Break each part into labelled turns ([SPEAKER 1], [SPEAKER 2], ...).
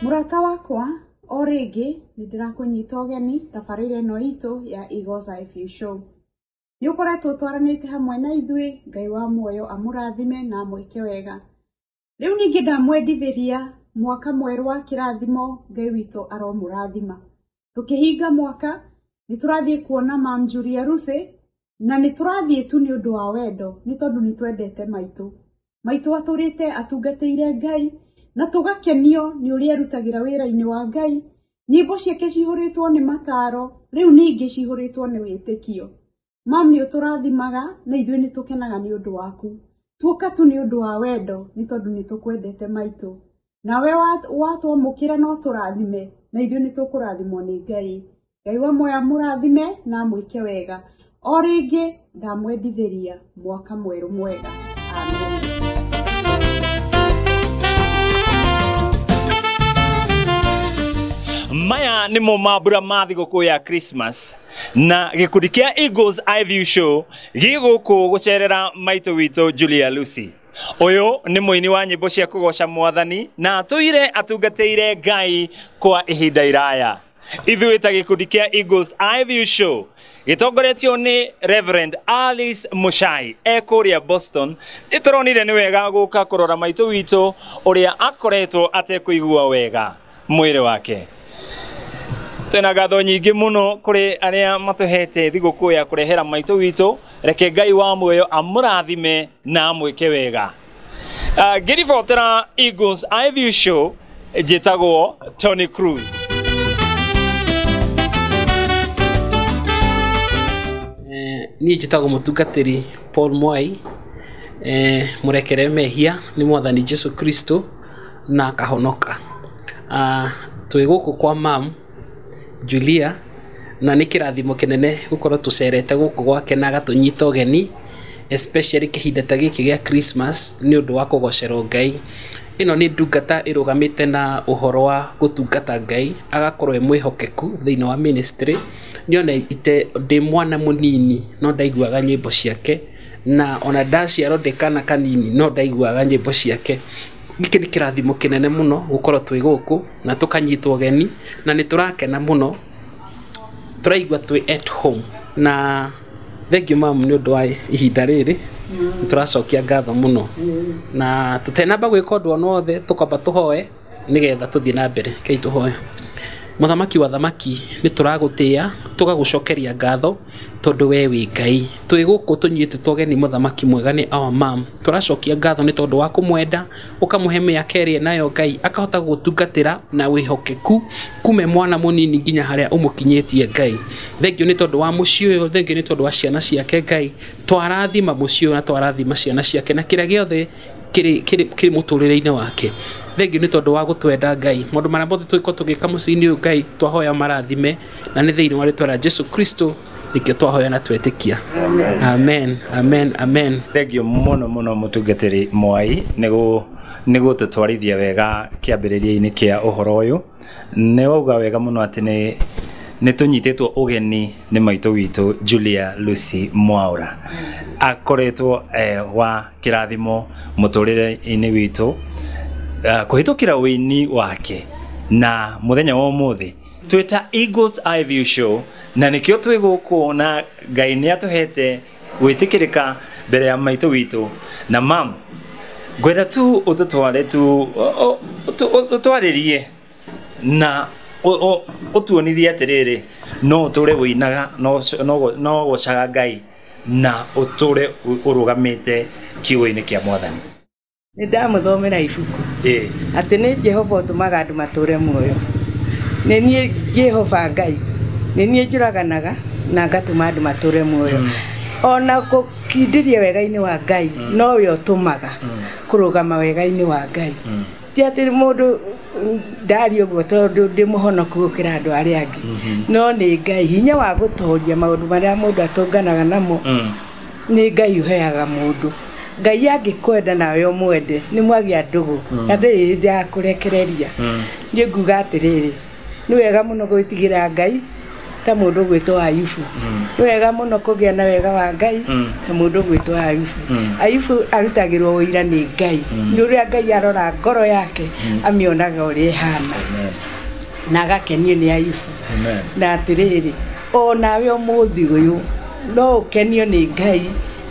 [SPEAKER 1] Mũrata wakwa o rĩngĩ nĩ ndĩrakũnyita ũgeni tabarĩra ĩno itũ ya Igoza FU Show. Nĩ ũkoretwo twaranĩte hamwe na ithuĩ, Ngai wa muoyo amũrathime na amwĩke wega. Rĩu ningĩ ndamwendithĩria mwaka mwerũ wa kĩrathimo, Ngai witũ aromũrathima. Tũkĩhinga mwaka, nĩ tũrathiĩ kuona Mam Julia Rusi, na nĩ tũrathiĩ tu nĩ ũndũ wa wendo, nĩ tondũ nĩ twendete maitũ. Maitũ atũrĩte atungatĩire Ngai, na tũgakenio nĩ ũrĩa erutagĩra wĩra-inĩ wa Ngai. Nyĩmbo ciake cihũrĩtwo nĩ mataro, rĩu ningĩ cihũrĩtwo nĩ wĩtĩkio. mam nĩ ũtũrathimaga na ithuĩ nĩ tũkenaga nĩ ũndũ waku tuoka tu nĩ ũndũ wa wendo nĩ tondũ nĩ tũkwendete maitũ nawe watwamũkĩra no tũrathime na ithuĩ nĩ tũkũrathimwo nĩ ngai ngai wa moya mũrathime na mwĩke wega o rĩngĩ ndamwendithĩria mwaka mwerũ mwega
[SPEAKER 2] maya nimo mambura ma thigũkũ ya christmas na gikundi kia Eagles I View Show giguku gucerera maito witũ Julia Lucy uyu ni muini wa nyimbo cia kugoca mwathani na atũire atungatĩire Ngai kwa ihinda iraya ithuĩ ta gikundi kia Eagles I View Show gitongoretio ni Reverend Alice Muchai e kuria Boston nituronire ni wega guka kurora maito witũ uria akoretwo atekũigua wega mwĩrĩ wake twĩna ngatho nyingĩ mũno kũrĩ arĩa matũhete thigũkũ ya kũrehera maitũ witũ reke ngai wa muoyo amũrathime na amwĩke wega Ah, ngĩribotera Eagles iView show njĩtagwo Tony Cruz Eh,
[SPEAKER 3] niĩ njĩtagwo mũtungatĩri paul mwai eh, mũrekere mehia nĩ mwathani jesu kristo na akahonoka. Twĩ gũkũ kwa ma'am Julia na nĩ kĩrathimo kĩnene gũkorwo tũcerete gũkũ gwake na agatũnyita ũgeni especially kĩhinda ta gĩkĩ gĩa Christmas nĩ ũndũ wa kũgocerwo Ngai. Ĩno nĩ ndungata ĩrũgamĩte na ũhoro wa gũtungata Ngai, agakorwo e mwĩhokeku thĩiniĩ wa ministry. Niĩ ona ndĩ mwana mũnini no ndaiguaga nyĩmbo ciake. Na ona ndaciarwo ndĩ kana kanini no ndaiguaga nyĩmbo ciake. Gĩkĩ nĩ kĩrathimo kĩnene mũno gũkorwo twĩ gũkũ na tũkanyitwo ũgeni na nĩ tũrakena mũno, tũraigua twĩ at home. Na thengiũ mamu nĩ ũndũ wa ihinda rĩrĩ, nĩ tũracokia ngatho mũno. Na tũtenamba gwĩka ũndũ ona wothe tũkwamba tũhoe. nĩgetha tũthiĩ na mbere. Rekei tũhoe. Mũthamaki wa athamaki, nĩ tũragũtĩa, tũgagũcokeria ngatho, tondũ we wĩ Ngai. Twĩ gũkũ tũnyuĩte tũ ageni mũthamaki mwega nĩ our mum. Tũracokia ngatho nĩ tondũ wa kũmwenda, ũkamũhe mĩaka ĩrĩa enayo Ngai, akahota gũgũtungatĩra na wĩhokeku, kuuma e mwana mũnini nginya harĩa ũmũkinyĩtie Ngai. Thengiũ nĩ tondũ wa mũciĩ ũyũ, thengiũ nĩ tondũ wa ciana ciake Ngai. Twarathima mũciĩ ũyũ na twarathima ciana ciake na kĩrĩa gĩothe... kĩrĩ kĩrĩ kĩrĩ mũtũrĩre-inĩ wake. Thengiũ nĩ tondũ wa gũtwenda Ngai. Maũndũ marĩa mothe tũngĩkorwo tũgĩka mũciĩ-inĩ ũyũ Ngai twahoya ũmarathime, na nĩ thĩiniĩ wa rĩtwa rĩa Jesu Kristo nĩkĩo twahoya na twetĩkia. Amen, amen, amen. Thengiũ mũno mũno
[SPEAKER 2] mũtungatĩri Mwai nĩ gũtũtwarithia wega kĩambĩrĩria-inĩ kĩa ũhoro ũyũ. Nĩ wauga wega mũno atĩ nĩ nĩ tũnyitĩtwo ũgeni nĩ maitũ witũ Julia Lucy Mwaura akoretwo eh, wa kĩrathimo mũtũrĩre-inĩ witũ uh, kũhĩtũkĩra ũini wake na mũthenya wa ũmũthĩ twĩta Eagles Eye View Show na nĩkĩo twĩ gũkũ na Ngai nĩ atũhete gwĩtĩkĩrĩka mbere ya maitũ witũ na mam ngwenda tu ũtũtware tu ũ- ũ- ũtũ- ũ- ũtwarĩrie na ũ- ũ- ũtuonithie atĩrĩrĩ no ũtũre ũinaga no ũc- no gũ- no gũcaga ngai na ũtũre ũ- ũrũgamĩte kiugo-inĩ kĩa mwathani Nĩ ndamũthomera
[SPEAKER 4] ibuku Ĩĩ. atĩ nĩ Jehova ũtũmaga andũ matũũre muoyo. Nĩ niĩ Jehova Ngai, nĩ niĩ njũraganaga na ngatũma andũ matũũre muoyo. Ona gũkindĩria wega-inĩ wa Ngai nowe ũtũmaga kũrũgama wega-inĩ wa Ngai. Ti atĩ mũndũ ndaria ũguo tondũ ndĩ mũhonoku gũkĩra andũ arĩa angĩ, no nĩ Ngai, hinya wa gũtoria maũndũ marĩa mũndũ atũnganaga namo. nĩ Ngai ũheaga mũndũ. Ngai angĩkwenda nawe ũmwende, nĩ mwagĩa ndũgũ, mm. na ndĩrĩ hĩndĩ ya kũrekereria. Mm. Niĩ nguga atĩrĩrĩ, nĩ wega mũno gwĩtigĩra Ngai ta mũndũ ũgwĩtwo Ayubu. Mm. Nĩ wega mũno kũgĩa na wega wa Ngai mm. ta mũndũ ũgwĩtwo Ayubu. Mm. Ayubu arutagĩrwo ũira nĩ Ngai. Nĩ ũrĩa Ngai arora ngoro yake amĩonaga ũrĩa ĩhana na agakenio nĩ Ayubu na
[SPEAKER 2] atĩrĩrĩ
[SPEAKER 4] O nawe ũmũthĩ ũyũ no ũkenio nĩ Ngai,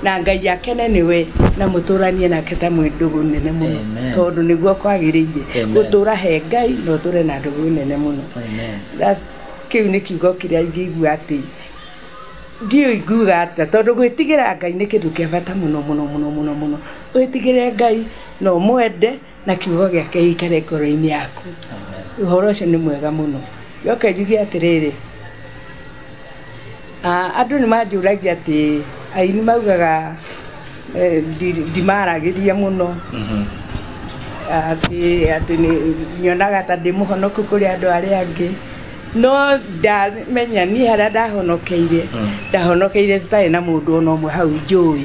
[SPEAKER 4] na Ngai akene nĩwe, na mũtũranie nake ta mwĩ ndũgũ nene mũno, tondũ nĩguo kwagĩrĩire gũtũra he Ngai na ũtũre na ndũgũ nene mũno. Kĩu nĩ kiugo kĩrĩa ingĩigua atĩ, ndiũĩ ingiuga atĩa, tondũ gwĩtigĩra Ngai nĩ kĩndũ kĩa bata mũno mũno mũno mũno, wĩtigĩre Ngai na ũmwende. na kiugo gĩake gĩikare ngoro-inĩ yaku. Ũhoro ũcio nĩ mwega mũno. Njoke njuge atĩrĩrĩ, ah, andũ nĩ manjũragia atĩ aini maugaga eh, ndi- ndimaragĩria mũno atĩ atĩ nĩ- nyonaga ta ndĩ mũhonoku kũrĩ andũ arĩa angĩ no ndamenya niĩ harĩa ndahonokeire ndahonokeire citarĩ na mũndũ ona ũmwe hau njũĩ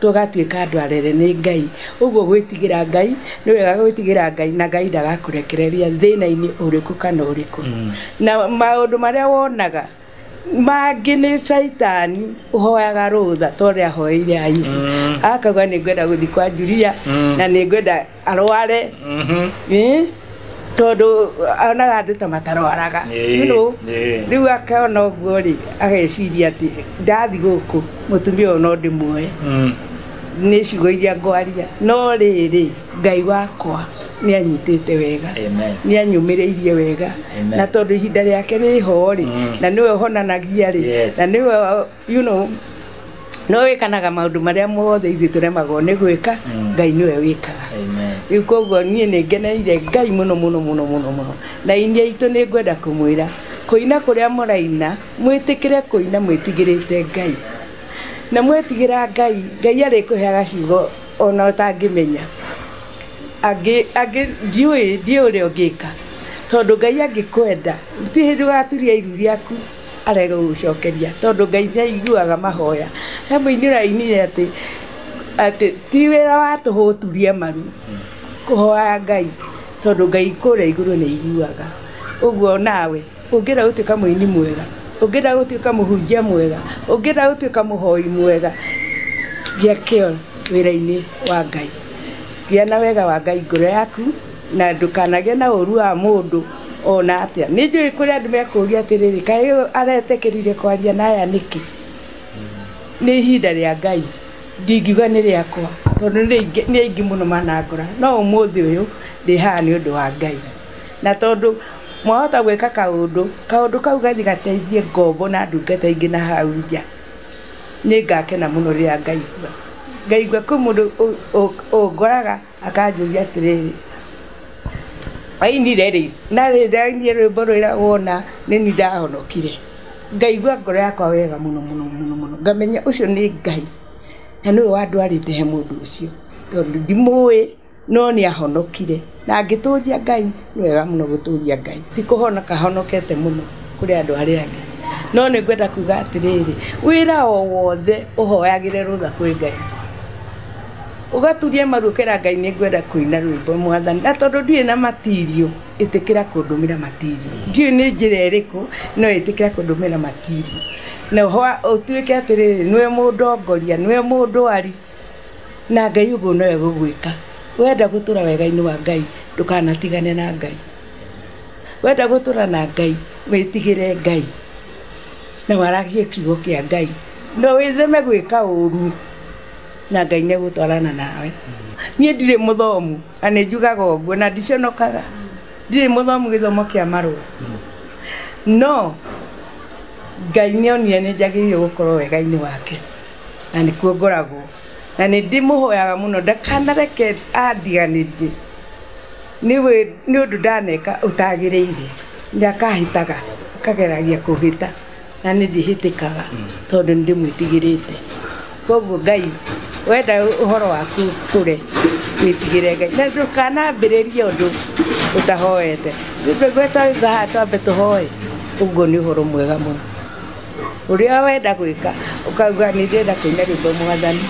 [SPEAKER 4] tũgatuĩka andũ arere nĩ Ngai. Ũguo gwĩtigĩra Ngai, nĩ wega gwĩtigĩra Ngai na Ngai ndagakũrekereria thĩna-inĩ ũrĩkũ kana ũrĩkũ. Mm. Na maũndũ marĩa wonaga mangĩ nĩ caitani ũhoyaga rũtha ta ũrĩa ahoeire Ayubu mm. akauga nĩ ngwenda gũthiĩ kwa Julia mm. na nĩ ngwenda arware Ĩ, tondũ onaga andũ ta matarwaraga Ĩĩ, You know, ĩĩ. rĩu akona ũguo rĩ ageciria atĩ ndathi gũkũ mũtumia ũyũ no ndĩmuoe nĩ ciugo iria ngwaria no rĩrĩ ngai wakwa nĩ anyitĩte wega Amen. nĩ anyũmĩrĩirie wega Amen. na tondũ ihinda rĩake rĩho rĩ na nĩwe ũhonanagia rĩ Yes. na nĩwe You know, no wĩkanaga maũndũ marĩa mothe ithuĩ tũremagwo nĩ gwĩka ngai nĩwe wĩkaga Amen. rĩu koguo niĩ nĩ ngeneire ngai mũno mũno mũno mũno mũno na inyia itũ nĩ ngwenda kũmwĩra kũina kũrĩa mũraina mwĩtĩkĩre kũina mwĩtigĩrĩte ngai na mwetigĩra ngai ngai arĩkũheaga ciugo ona ũtangĩmenya angĩ angĩ ndiũĩ ndiũĩ ũrĩa ũngĩka tondũ ngai angĩkwenda ti ndũgaturia iru rĩaku arege gũgũcokeria tondũ Ngai nĩ aiguaga mahoya. He mũini ũrainire atĩ, atĩ ti wĩra wa tũhũ gũturia maru kũhoya Ngai tondũ Ngai kũrĩa igũrũ nĩ aiguaga. Ũguo nawe ũngĩenda gũtuĩka mũini mwega, ũngĩenda gũtuĩka mũhunjia mwega, ũngĩenda gũtuĩka mũhoi mwega, gĩa kĩo wĩra-inĩ wa Ngai. Gĩa na wega wa Ngai ngoro yaku. Na ndũkanagĩe na ũũru wa mũndũ o na atĩa. Nĩ njũĩ kũrĩ andũ mekũũria atĩrĩrĩ, 'Kaĩ ũyũ aretĩkĩrire kwaria na aya nĩkĩ? Nĩ ihinda rĩa Ngai, ndingiuga nĩ rĩakwa, tondũ nĩ aingĩ mũno manangora. No ũmũthĩ ũyũ ndĩ haha nĩ ũndũ wa Ngai. Na tondũ mwahota gwĩka kaũndũ, kaũndũ kau gathiĩ gateithie ngombo na ndungata ingĩ na hau nja, nĩ ngakena mũno rĩrĩa ngaigua. Ngaigua kwĩ mũndũ ũngoraga. akanjũria atĩrĩrĩ wainire rĩ na rĩ ndainire rwĩmbo rwĩragwo ũna nĩni ndahonokire ngaigua ngoro yakwa wega mũno mũno mũno mũno ngamenya ũcio nĩ ngai na nĩwe wandwarĩte he mũndũ ũcio tondũ ndimũĩ no nĩahonokire na ngĩtũria ngai nĩ wega mũno gũtũria Ngai. Ti kũhonoka honokete mũno kũrĩ andũ arĩa angĩ. No nĩ ngwenda kuga atĩrĩrĩ, wĩra o wothe ũhoyagĩre rũtha kwĩ Ngai. Ũgaturia maru ũkera Ngai nĩ ngwenda kũina rwĩmbo Mwathani. Na tondũ ndirĩ na material, ĩtĩkĩra kũndũmĩra material. Ndiũĩ nĩ njĩra ĩrĩkũ, no ĩtĩkĩra kũndũmĩra material. Na ũtuĩke atĩrĩrĩ, nĩwe mũndongoria, nĩwe mũndwari. Na Ngai ũguo no egũgwĩka. Wenda gũtũra wegainĩ wa Ngai ndũkanatigane na Ngai. Wenda gũtũra na Ngai wĩtigĩre Ngai na waragie kiugo kĩa Ngai na wĩtheme gwĩka ũru na Ngai nĩ egũtwarana nawe. Niĩ ndirĩ mũthomu na nĩ njugaga ũguo na ndiconokaga. Ndirĩ mũthomu gĩthomo kĩa marũa no Ngai nĩ onire nĩ njagĩrĩirwo gũkorwo wegainĩ wake. na nĩkuo ngoragwo na nĩ ndĩmũhoyaga mũno ndakanareke andiganĩrie nĩ ũndũ ndaneka ũtagĩrĩire, nĩ akahĩtaga akageragia kũhĩta na niĩ ndihĩtĩkaga tondũ nĩ ndĩmwĩtigĩrĩte. Koguo Ngai wenda ũhoro waku ũkũre wĩtigĩre Ngai na ndũkanambĩrĩrie ũndũ ũtahoete. Rĩu nĩguo twauga haha twambe tũhoe, ũguo nĩ ũhoro mwega mũno. ũrĩa wenda gwĩka ũkauga nĩ ndĩrenda kũina rwĩmbo mwathani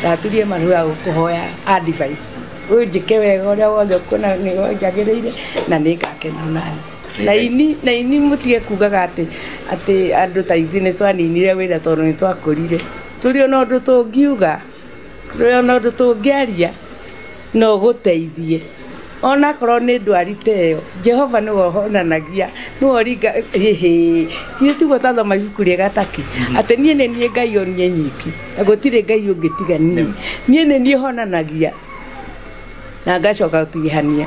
[SPEAKER 4] ndaturie maru ga gũkũhoya advice ũnjĩke wega ũrĩa wothe ũkuona nĩwe njagĩrĩire na nĩ ngakena nawe na ini na ini mũtige kugaga atĩ atĩ andũ ta ithuĩ nĩ twaninire wĩra tondũ nĩ twakũrire tũrĩ ona ũndũ tũngiuga tũrĩ ona ũndũ tũngĩaria. no ũgũteithie. Ona akorwo nĩ ndwari ta ĩyo, Jehova nĩwe ũhonanagia, nĩwe ũringa, ĩhĩĩ. Githĩ tiguo twathoma ibuku rĩega ta kĩ? Atĩ niĩ nĩ niĩ Ngai o niĩ nyiki, na gũtirĩ Ngai ũngĩ tiga niĩ. Niĩ nĩ niĩ honanagia, na ngacoka gũtigithania.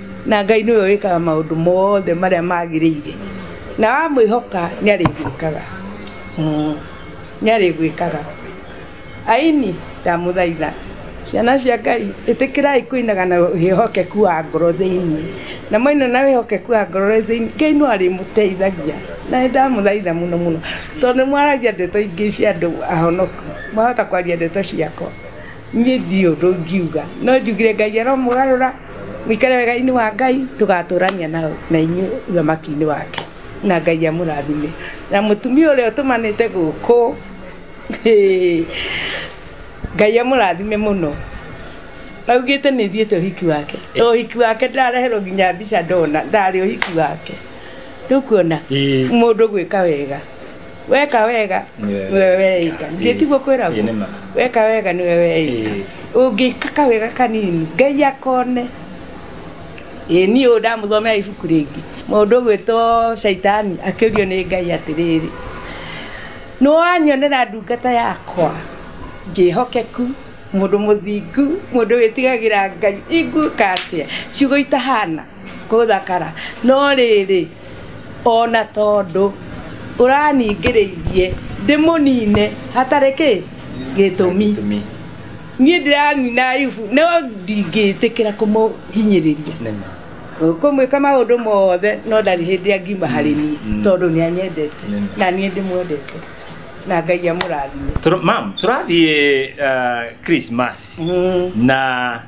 [SPEAKER 4] Na Ngai nĩwe wĩkaga maũndũ mothe marĩa magĩrĩire. Na wamwĩhoka nĩarĩgwĩkaga. Umm nĩarĩgwĩkaga. Aini, ndamũthaitha. Ciana cia Ngai, ĩtĩkĩrai kũinaga na wĩhokeku wa ngoro thĩiniĩ. Na mwaina na wĩhokeku wa ngoro thĩiniĩ, Ngai no arĩmũteithagia. Na nĩndamũthaitha mũno mũno. Tondũ nĩmwaragia ndeto ingĩ cia andũ ahonoku. Mwahota kwaria ndeto ciakwa. niĩ ndirĩ ũndũ ingiuga no njugire ngai aromũgarũra mũikare wegainĩ wa ngai tũgatũrania na na inyuĩ ũthamakinĩ wake na ngai amũrathime na mũtumia ũrĩa ũtũmanĩte gũkũ hĩ, ngai amũrathime mũno augĩte nĩ thiĩte ũhiki wake to ũhiki wake ndĩrareherwo nginya mbica ndona ndarĩ ũhiki wake rĩu kuona Ĩĩ. mũndũ gwĩka wega weka wega Nĩwe nĩwe weika Ĩĩ. githĩ tiguo kwĩragwo Ĩĩ, nĩ ma. weka wega nĩwe weika Ĩĩ. ũngĩka kawega kanini ngai akone ĩ niĩ ũyũ ndamũthomera ibuku rĩngĩ mũndũ ũgwĩtwo caitani akĩũrio nĩ ngai atĩrĩrĩ nĩwanyonera ndungata yakwa njĩhokeku mũndũ mũthingu mũndũ wĩtigagĩra ngai ingwĩka atĩa ciugo itahana Gũthakara. No rĩrĩ, o na tondũ ũraningĩrĩirie ndĩmũnine hatarĩ kĩ? Gĩtũmi. Niĩ ndĩranina Ayubu no ndingĩtĩkĩra kũmũhinyĩrĩria. Ngũmwĩka maũndũ mothe no ndarĩ hĩndĩ angiuma harĩ niĩ tondũ nĩ anyendete na niĩ ndĩmwendete. Na Ngai amũrathime. Ma'am, tũrathiĩ
[SPEAKER 2] Christmas na...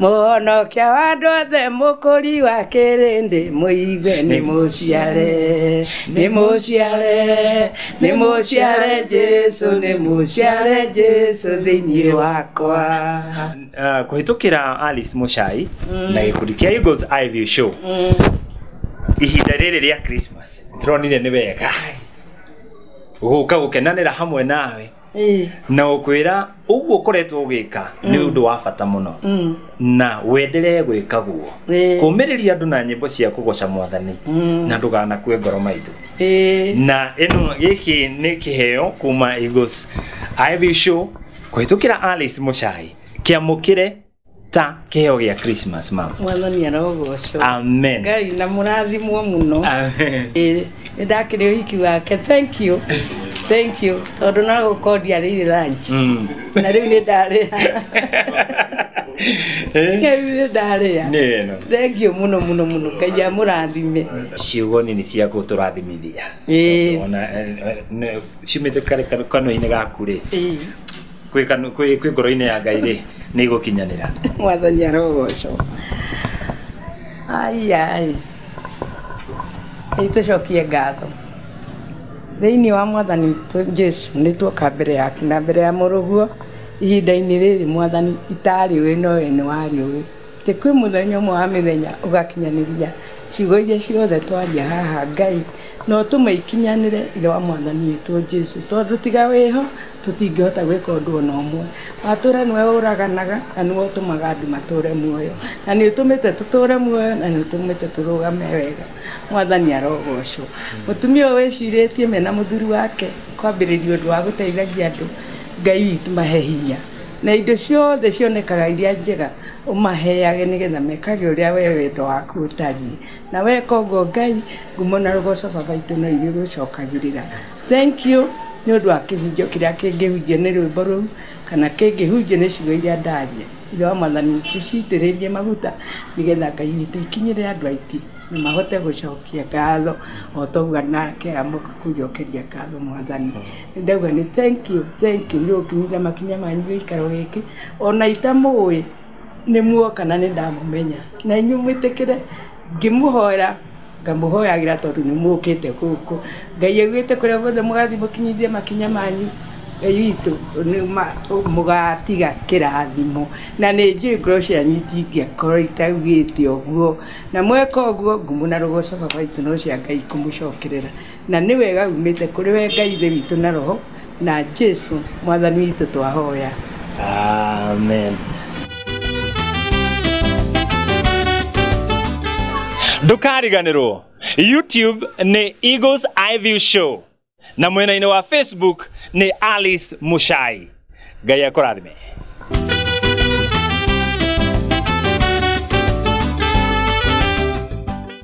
[SPEAKER 4] mũhonokia wa andũ othe mũkũri wa kĩrĩndĩ mũigue nĩ mũciare nĩ mũciare nĩ mũciare jesu nĩ mũciare jesu thĩinĩ wakwa uh, kuhĩtũkĩra
[SPEAKER 2] alice mucai mm. na gĩkundi kĩa eagles iview show mm. ihinda rĩrĩ rĩa christmas tũronire nĩ wega gũka gũkenanĩra hamwe nawe Ĩĩ. na gũkwĩra ũguo ũkoretwo ũgĩka nĩ ũndũ wa bata mũno Mm. na wenderee gwĩka guo Ĩĩ. kũmĩrĩria andũ na nyĩmbo cia kũgoca mwathani Mm. na ndũganakue ngoro maitũ Ĩĩ. na ĩno gĩkĩ nĩ kĩheo kuma Eagles Ivy Show kũhĩtũkĩra Alice Mũchai kĩamũkĩre ta kĩheo gĩa christmas mama mwathani arogocwo
[SPEAKER 4] amen ngai na
[SPEAKER 2] mũrathimwo
[SPEAKER 4] mũno amen Ĩĩ, nĩ ndakĩrĩ ũhiki wake thank you thank you tondũ no gũkorwo ndiarĩire ranji Mm. na rĩu nĩ ndarĩa Eh, rĩu nĩ ndarĩa nĩ ĩno thank you mũno mũno mũno ngai amũrathime ciugo nini
[SPEAKER 2] cia gũtũrathimithia Ĩĩ. Tondũ ona, eh, eh, nĩ- ciumĩte karĩ kanũ- kanua-inĩ gaku rĩ Ĩĩ. kwĩ kanu- kwĩ kwĩ ngoro-inĩ ya ngai rĩ nĩ igũkinyanĩra mwathani
[SPEAKER 4] arogocwo aiai itũcokie ngatho thĩinĩ wa mwathani witũ jesu nĩ tuoka mbere yaku na mbere ya mũrũguo ihinda-inĩ rĩrĩ mwathani itarĩ wĩ no we nĩ warĩ ũĩ tä kwĩ mũthenya ũmwe wa mĩthenya ũgakinyanĩria ciugo iria ciothe twaria haha ngai no tũmeikinyanĩre ithe wa mwathani witũ jesu tondũ tiga wĩho Tũtingĩhota gwĩka ũndũ o na ũmwe. Watũũra nĩwe ũraganaga na nĩwe ũtũmaga andũ matũũre muoyo. Na nĩ ũtũmĩte tũtũũre muoyo na nĩ ũtũmĩte tũrũgame wega. Mwathani arogoocwo. Mũtumia ũyũ wĩcirĩtie mena mũthuri wake kwambĩrĩria ũndũ wa gũteithagia andũ. Ngai witũ mahe hinya. Na indo ciothe cionekaga iria njega ũmaheage nĩ getha mekage ũrĩa we wendo waku ũtariĩ. Na weka ũguo Ngai, ngumo na rũgooco Baba witũ no irĩgũcokagĩrĩra. Thank you nĩ ũndũ wa kĩhunjio kĩrĩa kĩngĩhunjio nĩ rwĩmbo rũu, kana kĩngĩhunjio nĩ ciugo iria ndaria. Ithe wa mwathani Yesu tũcitĩrĩrie maguta, nĩgetha Ngai witũ ikinyĩre andũ aingĩ, na mahote gũcokia ngatho o ta ũguo nake amoka kũnjokeria ngatho mwathani. Nĩ ndauga nĩ thank you, thank you nĩ ũnginyĩtie makinya manyu gĩikaro gĩkĩ, ona itamũĩ nĩ muoka na nĩ ndamũmenya. Na inyuĩ mwĩtĩkĩre ngĩmũhoera. Ngamũhoyagĩra tondũ nĩ mũkĩte gũkũ. Ngai augĩte kũrĩa guothe mũgathiĩ mũkinyithie makinya manyu, Ngai witũ mũgatiga kĩrathimo. Na nĩ njũĩ ngoro cianyu itingĩakorwo itaugĩte ũguo. Na mweka ũguo, ngumo na rogoco Baba witũ no cia Ngai ikũmũcokerera. Na nĩ wega yumĩte kũrĩ we Ngai Ithe witũ na Roho, na Jesu Mwathani witũ twahoya. Amen.
[SPEAKER 2] ndũkariganĩrwo youtube nĩ eagles eye view show na mwena-inĩ wa facebook nĩ alice mushai ngai akũrathime